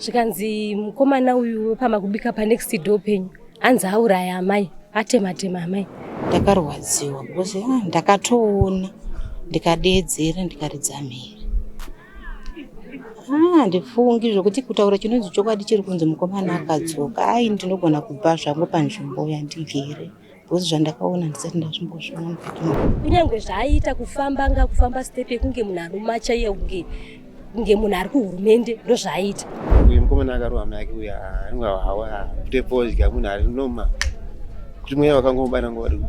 zvikanzi mukomana uyu wepamba kubika panext door penyu anzi auraya amai atema tema amai ndakarwadziwa because ah, ndakatoona ndikadeedzera ndikaridza mhere ah, ndifungi zvokuti kutaura chinonzi chokwadi chiri kunzi mukomana akadzoka ai ndinogona kubva zvangu panzvimbo yandigere because zvandakaona ndisati ndazvimbozviona mukati kunyange zvaaiita kufamba anga kufamba step yekunge munhu anomacha iye kunge kunge munhu ari kuhurumende ndozvaaiita uyu mukomana akarowa mai ake uya anenge hawa kuite fodya munhu ari noma kuti mweya wakangomubana ngori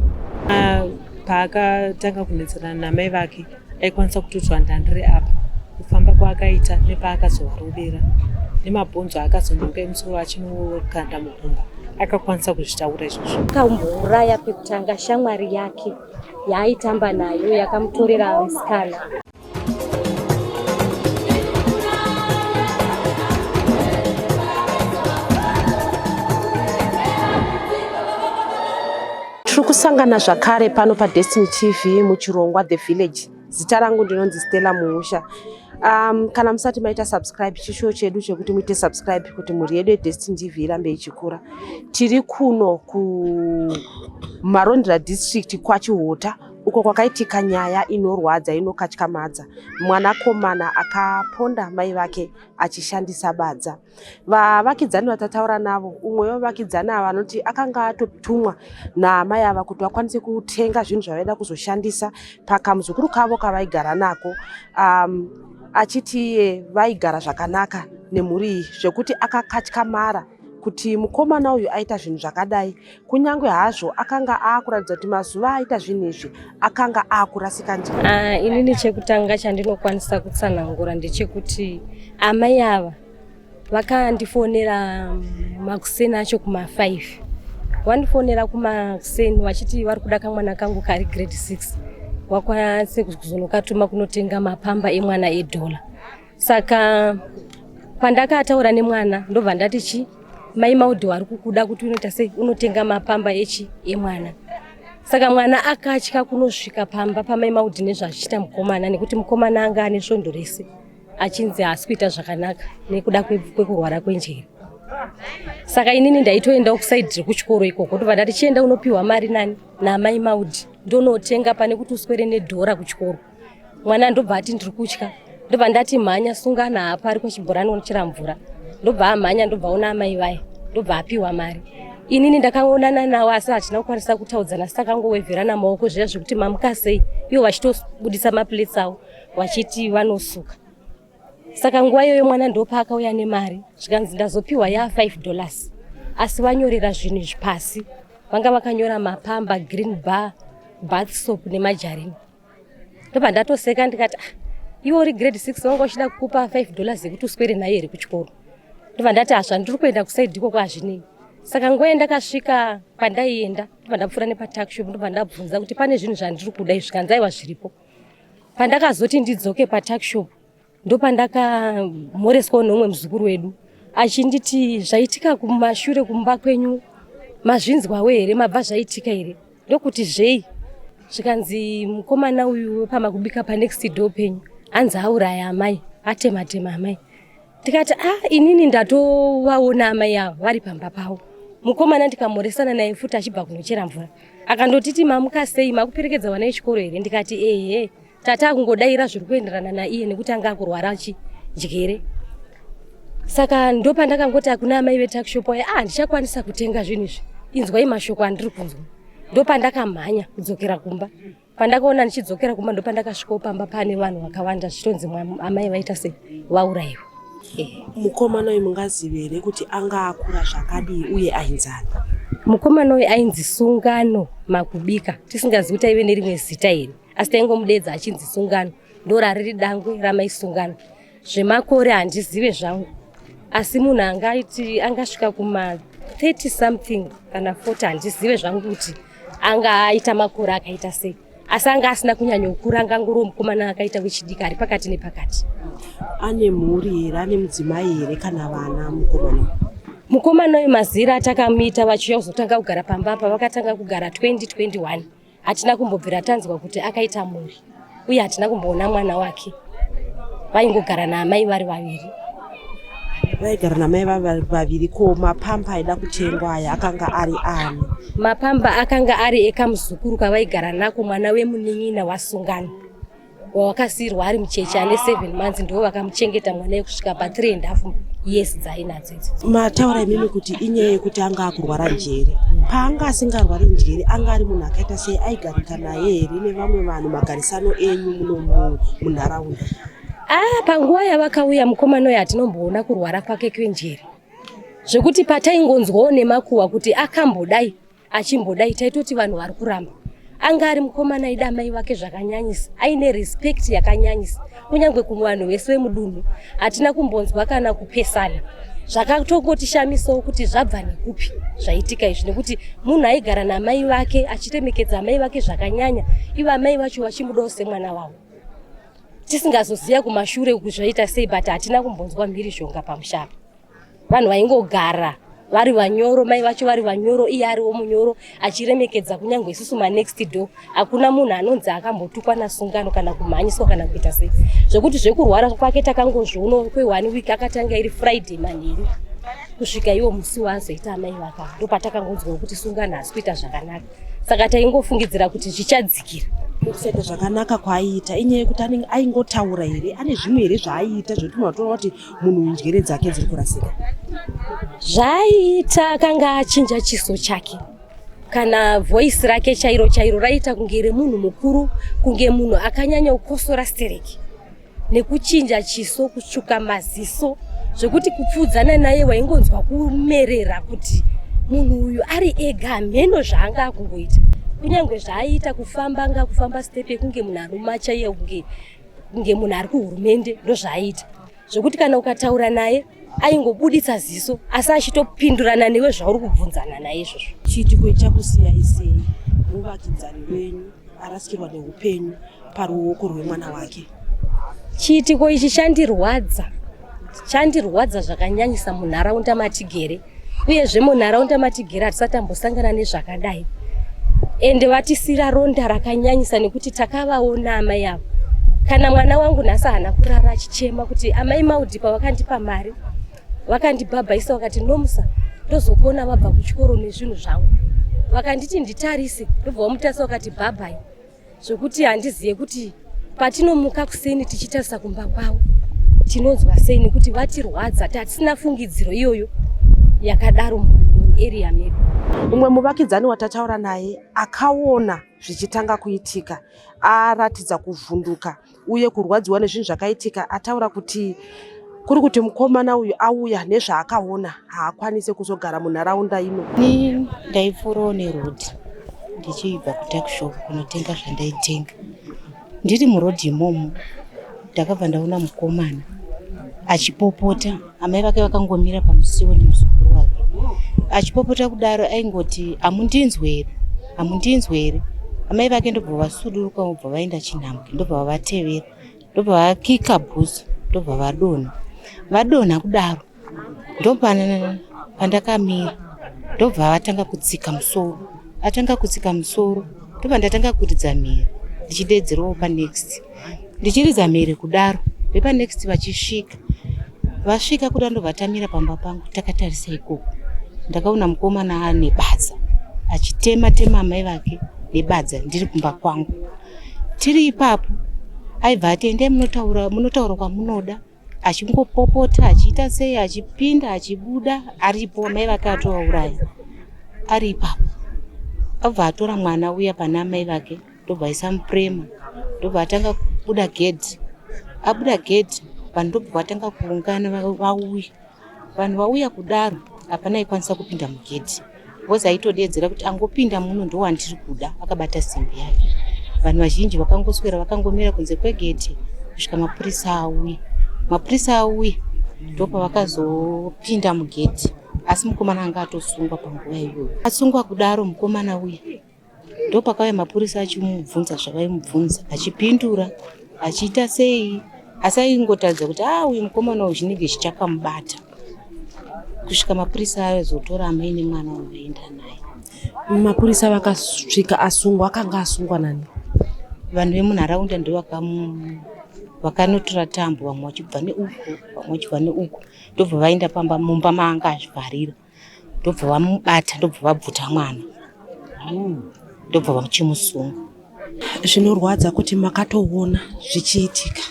ah, paakatanga kunetsana namai vake aikwanisa kutudzwa ndandire apa kufamba kwaakaita nepaakazovarovera nemabhonzo aakazononga emusoro achinokanda mugumba akakwanisa kuzvitaura izvozvo akambouraya pekutanga shamwari yake yaaitamba nayo yakamutorera musikana Tiri kusangana zvakare pano paDestiny TV muchirongwa The Village. Zita rangu ndinonzi Stella Muhusha. Um, kana musati maita subscribe chishuwo chedu chekuti muite subscribe kuti mhuri yedu yeDestiny TV irambe ichikura. Tiri kuno kuMarondera district kwaChihota uko kwakaitika nyaya inorwadza inokatyamadza mwanakomana akaponda mai vake achishandisa badza. vavakidzani vatataura navo umwe wevavakidzani ava vanoti akanga atotumwa naamai ava kuti vakwanise kutenga zvinhu zvavaida kuzoshandisa pakamuzukuru kavo kavaigara nako um, achiti iye vaigara zvakanaka nemhuri iyi zvekuti akakatyamara kuti mukomana uyu aita zvinhu zvakadai kunyange hazvo akanga akuratidza kuti mazuva aita zvinhu izvi akanga akurasika njira uh, ah, inini chekutanga chandinokwanisa kutsanangura ndechekuti amai ava vakandifonera makuseni acho kuma5 vandifonera kumakuseni vachiti vari kuda kamwana kangu kari grade 6 wakwanise kuzonokatuma kunotenga mapamba emwana edhola saka pandakataura nemwana ndobva ndati chi mai maudhi wari kukuda kuti unoita sei unotenga mapamba echi emwana saka mwana akatya kunosvika pamba pamai maudhi nezvachiita mukomana nekuti mukomana anga ane svondo rese achinzi haasi kuita zvakanaka nekuda kwekurwara kwenjere saka inini ndaitoendawo kusaidi rekuchikoro ikoko ndobva ndati chienda unopiwa mari nani namai maudhi ndonotenga pane kuti uswere nedhora kuchikoro mwana ndobva ati ndiri kutya ndobva ndati mhanya sungana hapa ariko chibhorani unochera mvura ndobva amhanya ndobva ona amai vaye ndobva apiwa mari inini ndakangonana nawo asi hatina kukwanisa kutaudzana asi takangoweverana maoko zviya zvekuti mamuka sei ivo vachitobudisa maplates avo vachiti vanosuka saka nguva iyoyo mwana ndopaakauya nemari zvikanzi ndazopiwa ya 5 dollars asi vanyorera zvinhu izvi pasi vanga vakanyora mapamba green bar bath soap nemajarini ndobva ndatoseka ndikati ah, iwe uri grade six wanga uchida kukupa five dollars yekuti uswere naye here kuchikoro ndobva ndati hazva ndiri kuenda kusaidi ikoko hazvinei saka nguva yandakasvika pandaienda ndobva ndapfuura nepatuckshop ndobva ndabvunza kuti pane zvinhu zvandiri kuda izvi kanzaiwa zviripo pandakazoti ndidzoke patuckshop ndopandakamhoreswawo neumwe muzukuru wedu achinditi zvaitika kumashure kumba kwenyu mazvinzwawo here mabva zvaitika here ndokuti zvei zvikanzi mukomana uyu wepama kubika panext door penyu anzi auraya amai atematema amai ndikati a ah, inini ndatovaona amai avo vari pamba pavo mukomana ndikamhoresana naye futi achibva kunochera mvura akandotiti mamukasei makuperekedza vana vechikoro here ndikati ehe tata akungodaira zviri kuenderana naiye nekuti anga akurwara achindyere saka ndopandakangoti akuna amai vetakshop aye ah ndichakwanisa kutenga zvinhu izvi inzwai mashoko andiri kunzwa ndopandakamhanya kudzokera kumba pandakaona ndichidzokera kumba ndopandakasvikawo pamba pane vanhu vakawanda zvichitonzi amai vaita se vaurayiwa eh. mukomana uyu mungazive here kuti anga akura zvakadii uye ainzani mukomana uyu ainzi sungano makubika tisingazivi kuti aive nerimwe zita here asi taingomudeedza achinzi sungano ndorariri dangwe ramai sungano zvemakore handizive zvangu asi munhu angaiti angasvika kuma 30 something kana 40 handizive zvangu kuti anga aita makore akaita sei asi anga asina kunyanya kukura angangoriwo mukomana akaita wechidiki ari pakati nepakati ane mhuri here ane mudzimai here kana vana mukomana mukomana uyu mazira atakamuita vachiuya kuzotanga kugara pamba apa vakatanga kugara 2021 hatina kumbobvira tanzwa kuti akaita mhuri uye hatina kumboona mwana wake vaingogara naamai vari vaviri vaigara namai vaviri ko mapamba aida kutengwa aya akanga ari ani mapamba akanga ari ekamuzukuru kavaigara nako mwana wemunin'ina wasungano wawakasiirwa ari mucheche ane seven months ndivo vakamuchengeta mwana yekusvika pa three and half yes dzainadzo idzo mataura imimi kuti inyaya yekuti anga akurwara njere paanga asingarwari njere anga ari munhu akaita sei aigarika naye here nevamwe vanhu magarisano enyu muno munharaunda ah panguva yavakauya mukomana uyo hatinomboona kurwara kwake kwenjere zvekuti pataingonzwawo nemakuhwa kuti akambodai achimbodai taitoti vanhu vari kuramba anga ari mukomana aida amai vake zvakanyanyisa aine respect yakanyanyisa kunyange kuvanhu vese vemudunhu hatina kumbonzwa kana kupesana zvakatongotishamisawo kuti zvabva nekupi zvaitika izvi nekuti munhu aigara namai vake achiremekedza amai vake zvakanyanya ivo amai vacho vachimudawo semwana wavo tisingazoziva kumashure uku zvaita sei but hatina kumbonzwa mhirizhonga pamushapa vanhu vaingogara vari vanyoro mai vacho vari vanyoro iye ariwo munyoro achiremekedza kunyange isusu manext door hakuna munhu anonzi akambotukwa nasungano kana kumhanyiswa kana kuita sei zvekuti zvekurwara kwake takangozviono kweone week akatanga iri friday manheru kusvika iwo musi waazoita amai vaka ndopatakangonzwa wekuti sungano hasi kuita zvakanaka saka taingofungidzira kuti zvichadzikira kusete zvakanaka kwaaiita inyaya yekuti aingotaura here ane zvimwe here zvaaiita zvekuti unotoona kuti munhu njere dzake dziri kurasika zvaiita akanga achinja chiso chake kana voisi rake chairo chairo raiita kunge remunhu mukuru kunge munhu akanyanya kukosora stereki nekuchinja chiso kutsvuka maziso zvekuti kupfuudzana naye waingonzwa kumerera kuti munhu uyu ari ega hameno zvaanga akungoita kunyange zvaaiita kufamba anga kufamba step yekunge munhu arumacha iye kunge kunge munhu ari kuhurumende ndozvaaita zvekuti kana ukataura naye aingobuditsa ziso asi achitopindurana newe zvauri kubvunzana naye izvozvo chiitiko ichakusiya isei muvakidzani wenyu arasikirwa neupenyu paruoko rwemwana wake chiitiko ichi chandirwadza chandirwadza zvakanyanyisa munharaunda matigere uyezve munharaunda matigere hatisati tambosangana nezvakadai ende vatisira ronda rakanyanyisa nekuti takavaona amai avo kana mwana wangu nhasi haana kurara achichema kuti amai maudhipa vakandipa mari vakandibhabhaisa vakati nomusa ndozokuona vabva kuchikoro nezvinhu zvangu vakanditi nditarise ndobva vamutarisa vakati bhabhai zvekuti handizive kuti patinomuka kuseni tichitarisa kumba kwavo tinonzwa sei nekuti vatirwadza tatisina fungidziro iyoyo yakadaro muarea medu umwe muvakidzani watataura naye akaona zvichitanga kuitika aratidza kuvhunduka uye kurwadziwa nezvinhu zvakaitika ataura kuti kuri kuti mukomana uyu auya nezvaakaona haakwanise kuzogara munharaunda ino ni ndaipfuurawo neroad ndichibva kutakshop kunotenga zvandaitenga ndiri muroad imomo ndakabva ndaona mukomana achipopota amai vake vakangomira pamusiwo nemuzukuru wake achipopota kudaro aingoti hamundinzwe here hamundinzwe here amai vake ndobva vasuduruka vobva vaenda chinhambwe ndobva vavatevera ndobva vakika bhuzo ndobva vadonha vadonha kudaro ndopana pandakamira ndobva vatanga kutsika musoro atanga kutsika musoro ndobva ndatanga kuridza mhiri ndichideedzerawo panext ndichiridza mhere kudaro vepanext vachisvika vasvika kuda ndovatamira pamba pangu takatarisa ikoko ndakaona mukomana ane badza achitema tema amai vake nebadza ndiri kumba kwangu tiri ipapo aibva ati endai munotaura munotaura kwamunoda achingopopota achiita sei achipinda achibuda aripo mai vake atovauraya ari ipapo abva atora mwana uya pana amai vake ndobva aisa mupurema ndobva atanga kubuda gedhi abuda gedhi vanhu ndobva vatanga kuungana vauya vanhu vauya kudaro hapana ikwanisa kupinda mugedhi bcause aitodeedzera kuti angopinda muno ndowandiri kuda akabata simbi yake vanhu vazhinji vakangoswera vakangomira kunze kwegedhi kusvika mapurisa auye mapurisa auye ndopavakazopinda mugedhi asi mukomana anga atosungwa panguva iyoyo asungwa kudaro mukomana uye Ndopakauya mapurisa achimubvunza zvavaimubvunza achipindura achiita sei asi aingotaridza kuti a ah, uyu mukomana uyu chinenge chichakamubata kusvika mapurisa azotora amai nemwana uyu vaenda naye. Mapurisa vakasvika asungwa akanga asungwa nani? Vanhu vemunharaunda ndo vakanotora tambo vamwe vachibva neuku vamwe vachibva neuku ndobva vaenda pamba mumba maanga azvivharira ndobva vamubata ndobva vabvuta mwana ndobva vachimusunga zvinorwadza kuti makatoona zvichiitika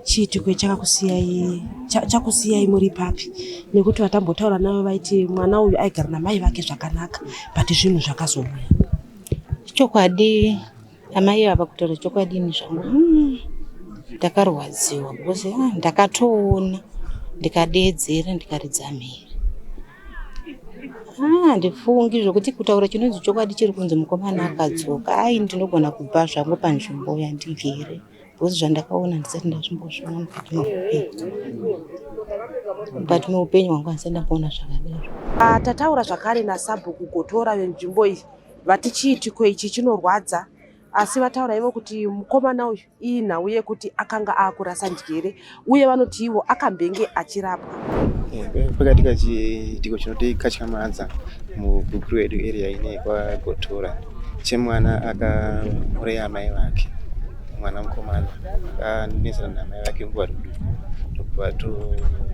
chiitiko chakakusiyai chakusiyai muri papi nekuti vatambotaura navo vaiti mwana uyu aigara namai vake zvakanaka but zvinhu zvakazouya chokwadi Amai ava kutaura chokwadi ini zvangu mm, ndakarwadziwa because ah, ndakatoona ndikadeedzera ndikaridza mhere ah, ndifungi zvokuti kutaura chinonzi chokwadi chiri kunzi mukomana akadzoka ai ndinogona kubva zvangu panzvimbo yandigere because zvandakaona ndisati ndazvimbozviona mukati meupenyu mukati meupenyu hwangu handisati ndamboona zvakadaro Ah, tataura zvakare nasabhuku gotora venzvimbo iyi Vati chiitiko ichi chinorwadza asi vataura ivo kuti mukomana uyu iyi nhau yekuti akanga akurasa njere uye vanoti ivo akambenge achirapwa pakati kachiitiko chinoti katyamadza mugukuru yedu area ine kwagotora chemwana akauraya amai vake mwana mukomana akanesana namai vake nguva rikudu ndokubva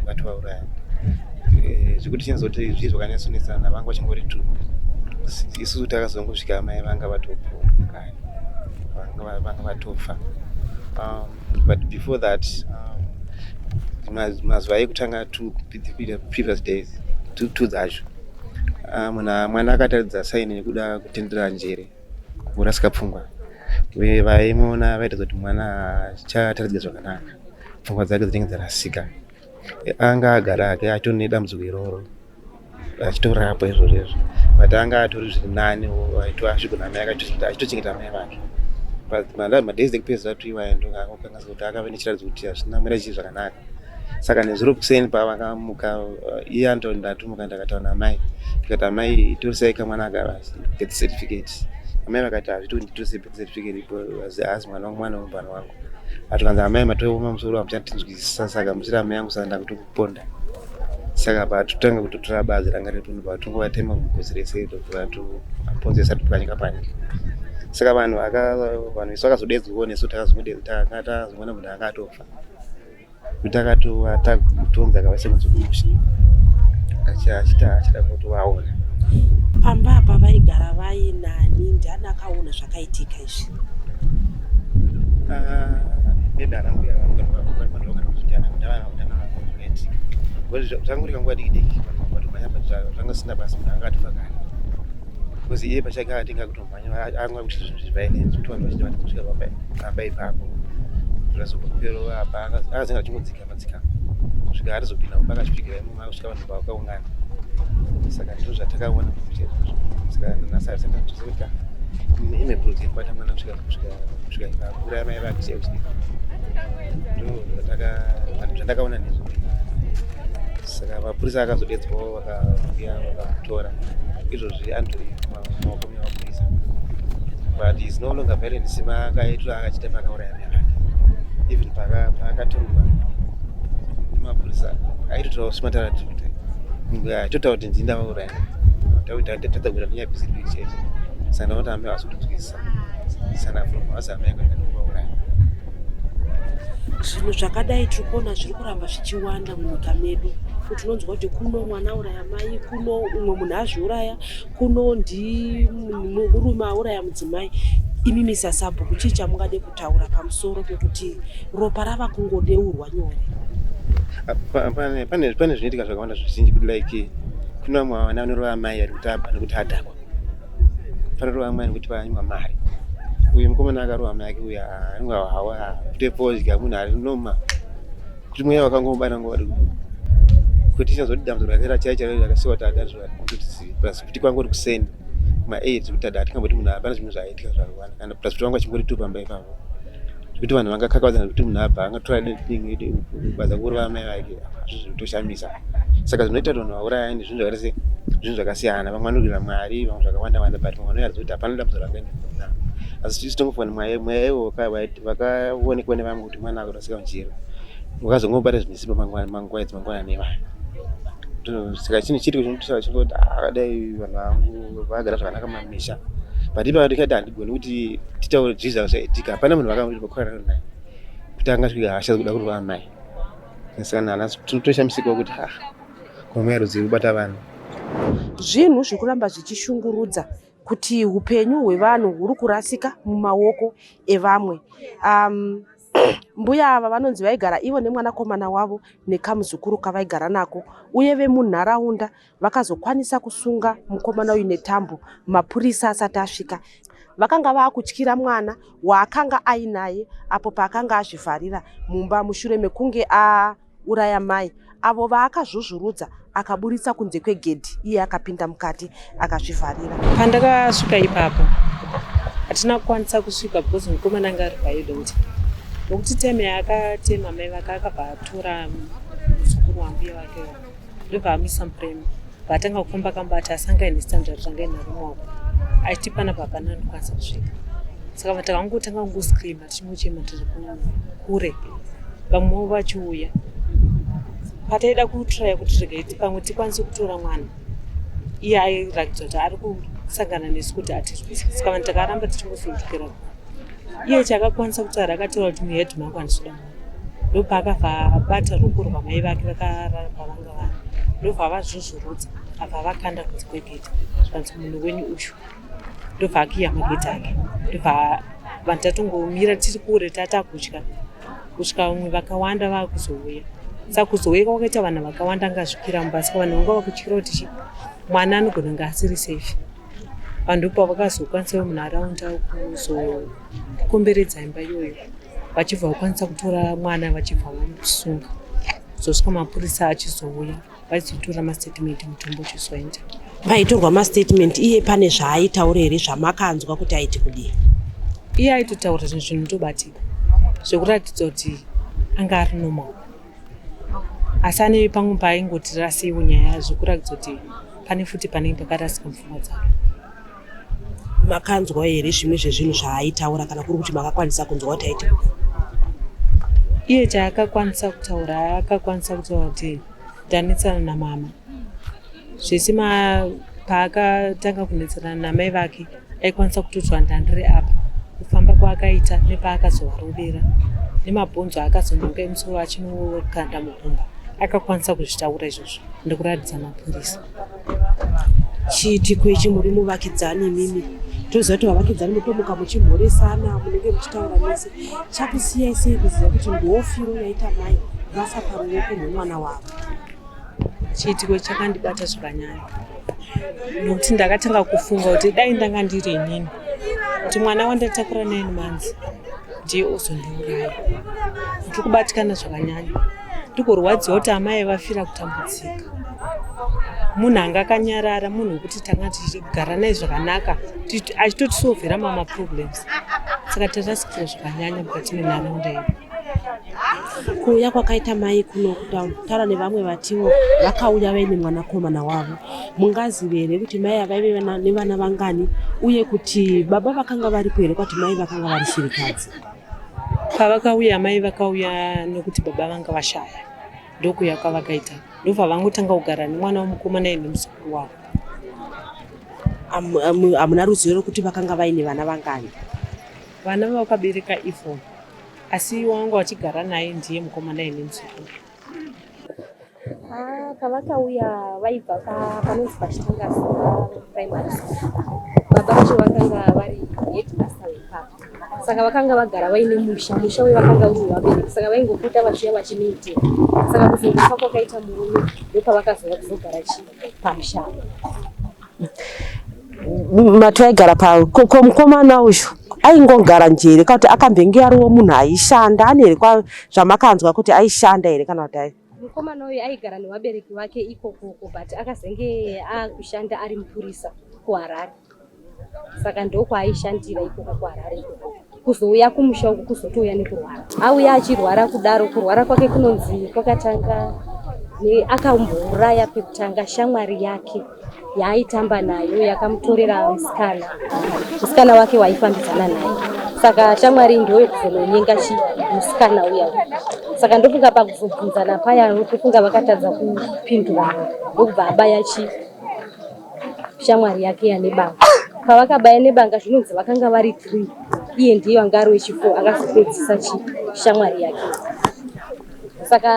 vatovauraya eh, zvekuti chinzoti zvii zvakanyasonesana vanga vachingori tu isu takazongosvika mai vanga vatopokani vanga vatofa um, but before that um, mazuva ekutanga two previous days two dzacho ah, mwana akataridza saini nekuda kutendera njere kurasika pfungwa uye vaimuona vaita kuti mwana achataridzika zvakanaka pfungwa dzake dzinenge dzarasika anga agara hake atori nedambudziko iroro achitorapwa izvozvo izvo but anga atori zviri nani aitosvigona amai aitochengeta amai vake but madays ekupedzisira tuiwaendokanga kuti akave nechiratidzo kuti hazvina mira chii zvakanaka saka nezuro kuseni pavakamuka eh, iye anto ndatomuka ndakataura namai ndikati amai itorisai kamwana aka birth certificate amai vakati hazviti kuti nditose birth certificate because haasi mwana wangu mwana wemubhana wangu atikanzi amai matooma musoro hamuchatinzwisisa saka musiri amai yangu saka ndakutokuponda saka patotanga kutotora bazi ranga retunhu patongovatema mugozi rese tokuvatoponzesa topwanyika panyika saka vanhu vanhu isu vakazodedzwawo nesu takazongotakazongoona munhu anga atofa kutakatova takutonza kavase kuzokumusha achita achida kuti vaona pamba apa vaigara vai nani ndiani akaona zvakaitika izvi zvanguri kanguva dikidiki zvanga zvisina basa munhu anga atofakana bcause iye pachake akatenga kutomba anga kuti zvinhu zvivaine zvitoni vachidavati kusvika pamba pamba ipapo zvazokupewo apa akazinga achingodzika madzika kusvika arizopinda kumba akasvikira imomo akusvika vanhu vakaungana saka ndizvo zvatakaona kuti saka nhasi arisati kuzoita ine bhuruzi yekubata mwana kusvika kusvika kusvika ikakura mai vake seusi ndo zvataka zvandakaona nezvo saka mapurisa akazodedzwawo vakavuya vakamutora izvozvi andri maoko mevapurisa but is no longer violent semakaitwa akachita paakauraya mai vake even paakaturwa nemapurisa aitotaura smatara kuti aitotaura kuti ndini ndavauraya tautatadza kuita kunyabisirwi chete sana kuti amai vasi kutinzwisisa sana from us amai kwenda zvinhu zvakadai tiri kuona zviri kuramba zvichiwanda munyika medu kuti unonzwa kuti kuno mwana auraya mai kuno umwe munhu azviuraya kuno ndimurume auraya mudzimai imi misasabhuku chii chamungade kutaura pamusoro pekuti ropa rava kungodeurwa nyore pane zvinoitika zvakawanda zvizhinji kuti like kune vamwe vana vanorova amai ari kutaba nekuti adhakwa Pararova mwana kuti vanywa mari. Uyu mukomana akarova mai yake uya anwa hawa kutepozya munhu ari noma. Kuti mweya wakangomubana ngori. Kuti chazodi dambudziko rake rachai charo rakasiwa tada kuti plus kuti kwangori kuseni. Ma 8 kuti tada atikamboti munhu apana zvinhu zvaitika zvarwana kana plus kuti wanga chingori tu pamba ipapo. zvekuti vanhu vangakakavadzana kuti munhu abva angatora thing ede kubaza kuuraya mai vake zvitoshamisa saka zvinoita kuti vanhu vaurayani zvinhu zvakaita se zvinhu zvakasiyana vamwe vanogirira mwari vamwe zvakawanda wanda but vamwe vanoyarza kuti hapana dambudzo rakaenda kuna asi tisu tongofunga ni mweya mweya iwo vakaonekwa nevamwe kuti mwana akurasika mujero wakazongobata zvinesimba mangwana mangwana mangwana nevana saka chinhu chiri chinotisaka chingoti akadai vanhu vangu vagara zvakanaka mamisha but ipa ndikati handigoni kuti titaure zviza zvaitika hapana munhu vakamuri pakorana naye kuti angasvika hasha dzekuda kurwa amai asikana ana tinotoshamisikawo kuti ha komwe yarudzi kubata vanhu zvinhu zviri kuramba zvichishungurudza kuti upenyu hwevanhu huri kurasika mumaoko evamwe um, mbuya ava vanonzi vaigara ivo nemwanakomana wavo nekamuzukuru kavaigara nako uye vemunharaunda Vakazokwanisa kusunga mukomana uyu netambo mapurisa asati asvika. Vakanga vaakutyira mwana waakanga ainaye apo paakanga azvivharira mumba mushure mekunge auraya mai avo vaakazvuzvurudza akaburitsa kunze kwegedhi iye akapinda mukati akazvivharira. Pandakasvika ipapo hatina kukwanisa kusvika because mukomana anga ari paidonti nokuti teme akatema mai vake akabva atora muzukuru wangu ye vake ndobva amisa murema paatanga kufamba kamba ati asanga ine standard zvanga inaro maoko aiti pana papana anokwanisa kusvika saka vati vakangotanga kungoscreama tichimuchema tiri kure vamwewo vachiuya pataida kutraya kuti regai pamwe tikwanise kutora mwana iye airatidza kuti ari kusangana nesu kuti atirwise saka vanhu takaramba tichingofindukira iye chakakwanisa kutaura akataura kuti muhedman kwandisoda ndopaakabva abata ruoko rwamai vake vakarara pavanga vari ndobva avazvuzvurudza abva vakanda kunze kwegedhi zvikanzi munhu wenyu uyu ndobva akiya magedhi ake ndobva vanhu tatongomira tiri kure tatakutya kusvika vamwe vakawanda vakuzouya saka kuzouya kwakaita vanhu vakawanda angazvikira mumba saka vanhu vanga vakutyira kuti chi mwana anogona nga asiri safe vanhu ndopavakazokwanisawo munharaunda kuzo kukomberedza imba iyoyo vachibva vakwanisa kutora mwana vachibva vamusunga zosvika mapurisa achizouya vaizotora mastatement mutombo uchizoenda paitorwa mastatement iye pane zvaaitaura here zvamakanzwa kuti aiti kudii iye aitotaura zvinhu zvinhu ndobatika zvekuratidza kuti anga ari normal asi ane pamwe paaingoti rasiwo nyaya yazvo kuratidza kuti pane futi panenge pakarasika mupfungwa dzavo makanzwa here zvimwe zvezvinhu zvaaitaura kana kuri kuti makakwanisa kunzwa kuti aiti iye chaakakwanisa kutaura akakwanisa kutaura kuti ndanetsana namama zvese paakatanga kunetsana namai vake aikwanisa kutoti vandandiri apa kufamba kwaakaita nepaakazovarovera nemabhonzo aakazononga emusoro achinovokanda mukumba akakwanisa kuzvitaura izvozvo ndikuratidza mapurisa chiitiko ichi muri muvakidzani imimi toziva kuti vavakidzani mutomuka muchimhoresana munenge muchitaura mese chakusiyai sei kuziva kuti ndoofiro yaita mai vafa paruoko rwemwana wavo chiitiko chakandibata zvakanyanya nokuti ndakatanga kufunga kuti dai ndanga ndiri inini kuti mwana wandatakura nine months ndiye ozondiuraya ndiri kubatikana zvakanyanya ndikurwadziwa kuti amai vafira kutambudzika munhu anga akanyarara munhu wekuti tanga tichigara naye zvakanaka achitotisovhera mama problems saka tarasikira zvakanyanya mukati menharaunda yedu kuuya kwakaita mai kuno kutaura nevamwe vatiwo vakauya vaine mwanakomana wavo mungazive here kuti mai avaive nevana vangani uye kuti baba vakanga varipo here kwati mai vakanga vari shirikadzi Pavakauya amai vakauya nokuti baba vanga vashaya ndokuya kwavakaita ndobva vangotanga kugara nemwana wemukomana ine muzukuru wavo. Hamuna ruzivo rekuti vakanga vaine vana vangani? Vana vakabereka Ivon asi wangu achigara naye ndiye mukomana ine muzukuru. Ah, pavakauya vaibva panonzi pachitangasi primary baba vacho vakanga vari headmaster vepapa saka vakanga vagara vaine musha musha uye vakanga uri vabereki saka vaingopota vachiya vachinoitira saka kuzongofa kwakaita murume ndopavakazova kuzogara chii pamusha matu aigara pavo ko mukomana uyu aingogara njere kana kuti akambenge ariwo munhu aishanda ane here zvamakanzwa kuti aishanda here kana kuti ai mukomana uyu aigara nevabereki vake ikokoko but akazenge akushanda ari mupurisa kuharare saka ndokwaaishandira ikoko kuharare ikokoko kuzouya kumusha uku kuzotouya nekurwara auya achirwara kudaro kurwara kwake kunonzi kwakatanga akambouraya pekutanga shamwari yake yaaitamba nayo yakamutorera musikana musikana wake waifambidzana naye saka shamwari ndoyo kuzononyenga chi musikana uya saka ndofunga pakuzobvunzana paya ndofunga vakatadza kupindurana ndokubva abaya chi shamwari yake yanebanga pavakabaya nebanga zvinonzi vakanga vari three iye ndiye vanga ari wechifo akazopedzisa chi shamwari yake saka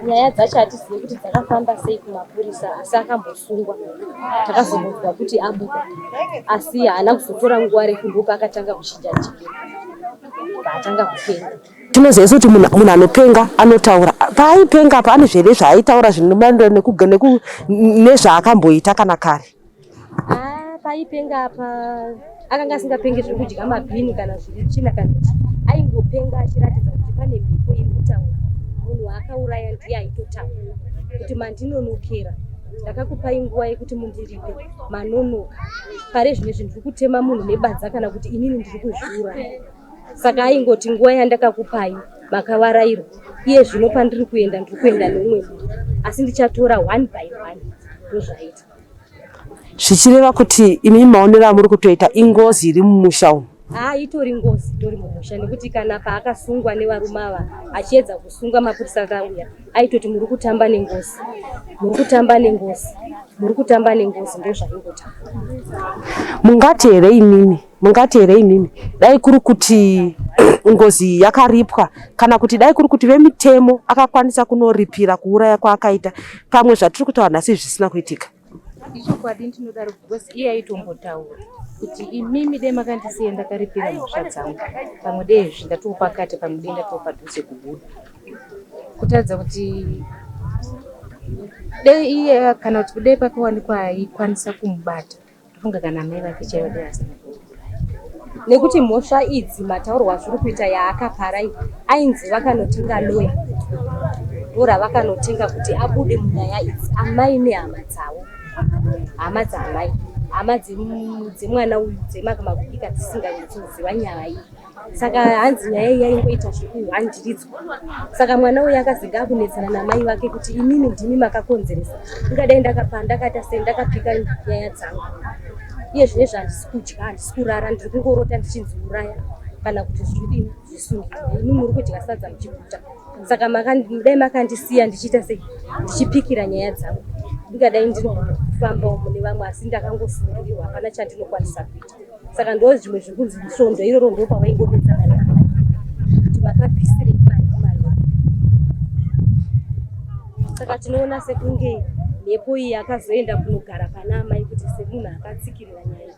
nyaya dzacho hatizivi kuti dzakafamba sei kumapurisa asi akambosungwa takazonzwa kuti abuda asi haana kuzotora nguva refu ndopaakatanga kuchinja njira paatanga kupenga Tinoziva kuti munhu anopenga anotaura. Paaipenga apa ane zvere zvaaitaura zvinomaenderana nezvaakamboita kana kare. Ah, paaipenga apa akanga asingapenge zviri kudya mabhini kana zviri tsvina kana aingopenga achiratidza kuti pane mhepo iri kutaura. Munhu waakauraya ndiye aitotaura kuti mandinonokera ndakakupai nguva yekuti mundiripe manonoka pare zvine zvinhu zviri kutema munhu nebadza kana kuti inini ndiri kuzviuraya. saka aingoti nguva yandakakupai makavarairwa iye zvino pandiri kuenda ndiri kuenda neumwe munhu asi ndichatora one by one ndozvaita zvichireva kuti imi maonero amuri kutoita ingozi iri mumusha umu haa itori ngozi itori mumusha nekuti kana paakasungwa nevarume ava achiedza kusunga mapurisa akauya aitoti muri kutamba nengozi muri kutamba nengozi muri kutamba nengozi ndozvaingotaura mungati here imimi Mungati here imimi dai kuri kuti ngozi yakaripwa kana kuti dai kuri kuti vemitemo akakwanisa kunoripira kuuraya kwaakaita pamwe zvatiri kutaura nhasi zvisina kuitika? Ichokwadi ndinodaro because iye aitombotaura kuti imimi dai makandisiya ndakaripira mhosva dzangu pamwe dai izvi ndatoo pakati pamwe dai ndatoo padhuze kubuda kutaridza kuti dai iye kana kuti kudai pakawanikwa aikwanisa kumubata Ndofunga kana amai vake chaivo dai vasina nekuti mhosva idzi mataurwa azviri kuita yaakapara iyi ainzi vakanotenga loya ora vakanotenga kuti abude munyaya idzi amai nehama dzavo hama dzaamai hama dzemwana uyu dzemakumakubika dzisinganyatsoziva nyaya iyi saka hanzi nyaya iyi yaingoita zvekuhandiridzwa saka mwana uyu akaziga akunetsana namai vake kuti imimi ndimi makakonzeresa ingadai ndakapa ndakaita sei ndakapika nyaya dzangu iye zvine zvahandisi kudya handisi kurara ndiri kungorota ndichinzi uraya kana kuti zvidini zvisungirwa imi muri kudya sadza muchiguta saka dai makandisiya ndichiita sei ndichipikira nyaya dzangu ndingadai ndinofambawo mune vamwe asi ndakangosungirirwa hapana chandinokwanisa kuita saka ndo zvimwe zvekunzi svondo iroro ndo pavaingonetsana navo kuti makabvisirei mari kumalwa saka tinoona sekunge mhepo iyi akazoenda kunogara pana amai kuti semunhu akatsikirira nyaya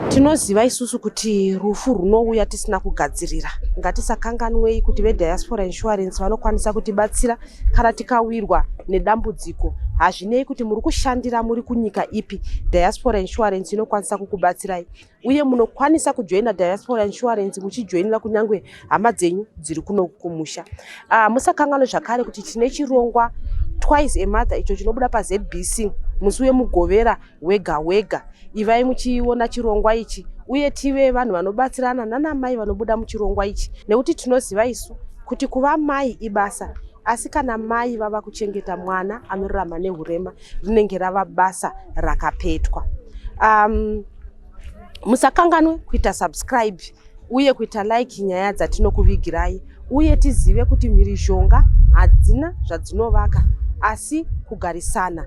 tinoziva isusu kuti rufu rwunouya tisina kugadzirira ngatisakanganwei kuti vediaspora insurance vanokwanisa kutibatsira kana tikawirwa nedambudziko hazvinei kuti muri kushandira muri kunyika ipi diaspora insurance inokwanisa kukubatsirai uye munokwanisa kujoina diaspora insurance muchijoinira kunyange hama dzenyu dziri kuno kumusha uh, musakanganwe zvakare kuti tine chirongwa twice a mother icho chinobuda pazbc musi wemugovera hwega hwega. Ivai muchiona chirongwa ichi uye tive vanhu vanobatsirana nanamai vanobuda muchirongwa ichi nekuti tinoziva isu kuti kuva mai ibasa asi kana mai vava kuchengeta mwana anorarama neurema rinenge rava basa rakapetwa. Um, musakanganwe kuita subscribe uye kuita like nyaya dzatinokuvigirai uye tizive kuti mhirizhonga hadzina zvadzinovaka asi kugarisana